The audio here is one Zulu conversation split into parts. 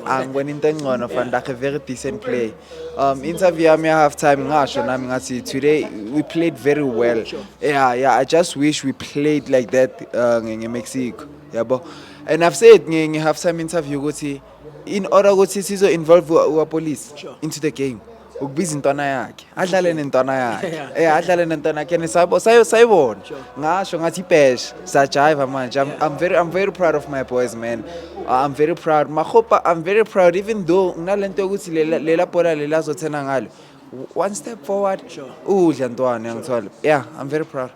angibona into engcono van dijk a very decent play um interview yami half time ngasho nami ngathi today we played very well yeah yeah i just wish we played like that uh, ngemexico yabo and i've said nge-half time interview ukuthi in order ukuthi sizo-involve our police into the game ukubiza intwana yakhe adlale nentwana yakhe eh adlale nentwana yakhe nisabo sayo sayibona ngasho ngathi ibhesha sajiva manje I'm, I'm very I'm very proud of my boys man uh, I'm very proud mahopa I'm very proud even though nginalento yokuthi lela lela bhola lelazothena ngalo one step forward udla ntwana ngithola yeah I'm very proud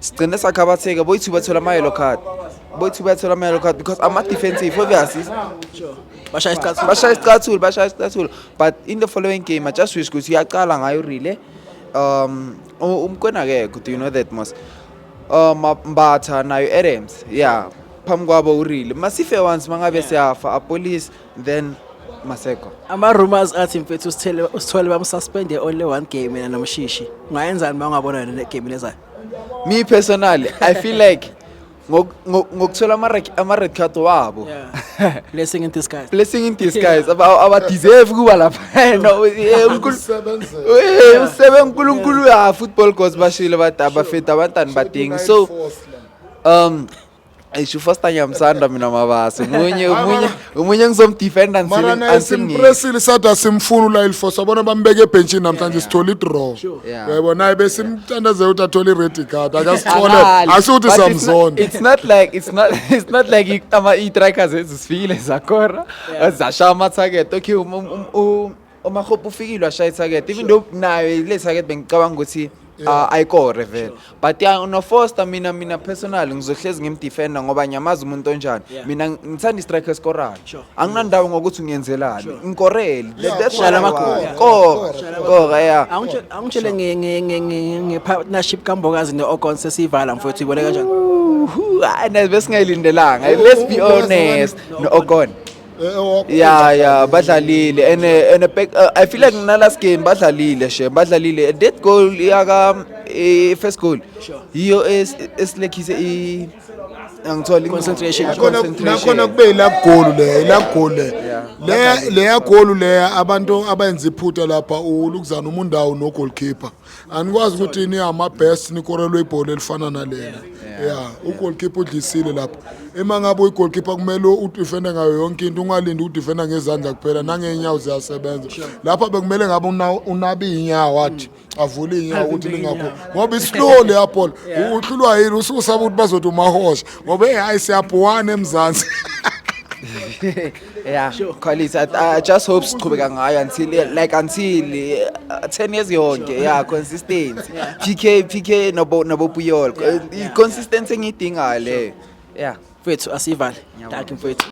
sigcine sakhabatheka boyithu bathola ama-yellow card boyithu bathola ama-yellow card because ama-defensive obvious bashaya isicathulo bashaya isicathulo bashaya isicathulo but in the following game i just wish ukuthi uyaqala ngayo relay um u- umkwena akekho do you know that mos um Ma- mbatha nayo adams yeah phambi kwabo urile masife once mangabe siyafa apolice then Maseko. Ama rumors athi mfethu usithele usithole bamsuspende only one game mina nomshishi. Ungayenzani uma ungabona yona le game lezayo? Me personally, I feel like ngok- ngok- ngokuthola ama rec- ama red card wabo. Yeah. Blessing in disguise. Blessing in disguise aba aba deserve kuba lapha. No, eh, uNkulu- Usebenze. Eh, usebe uNkulunkulu ya football gods bashilo bathi abafethu abantwana badingi. So um Eish ufoster ngiyamsanda mina mabasi munye umunye umunye ngizomdefenda mara naye simpresile sathi asimfuni ulayilfo sabona bambeke ebhentshini namhlanje sithole idraw Yeah. yebo naye besimthandazela ukuthi athole i-red card akasithole asikuthi samzonda it's not like it's not it's not like i- ama i-trackers ezisifikile zakora zashaya ama-target okay um- um- um- u- umahope ufikile washaya ithakethi even though nayo ile thakethi bengicabanga ukuthi ah, ayikore vele but ya unofoster mina mina personal ngizohlezi ngimdefenda ngoba ngiyamazi umuntu onjani Yeah. mina ngithanda istrike esikorayo Sure. anginandawo ngokuthi ngiyenzelani ngikorele Yeah, That's kora, what I want. kora, Kora, kora. kora ya Angitshe- angitshele nge- nge- nge- nge- nge-partnership kambokazi ne-ogon sesiyivala mfowethu ibone kanjani Uhu, hayi, nazi besingayilindelanga let's be honest no-ogon ya ya badlalile and eh, and eh, eh, i feel like na last game badlalile she badlalile that goal yaka first goal yiyo esilekhise i angithola concentration nakhona kube ila goal le ila goal le le le ya goal le abantu abayenza iphutha lapha ulukuzana umundawo no goalkeeper anikwazi ukuthi ni ama-best nikorelwe ibhola elifana nalena ya ugolkipa udlisile lapho uma ngabe uyigolkipa kumele udifende ngayo yonke into ungalindi ukudifenda ngezandla kuphela nangey'nyawo ziyasebenza lapha bekumele ngabe unabe iy'nyawo athi avule iy'nyawo ukuthi lingakho ngoba islow leya bhola uhlulwa yini usukusaba ukuthi bazothi umahosha ngoba eyi hayi siyabhuwana emzansi Yeah, sure. quality. I, I just hope siqhubeka ngayo until like until uh, 10 years yonke. Sure. Yeah, consistency. Yeah. PK PK nobo nobo Puyol. Yeah. Uh, yeah. Consistency engidinga le. Yeah. Mfethu asivale. Dankie mfethu.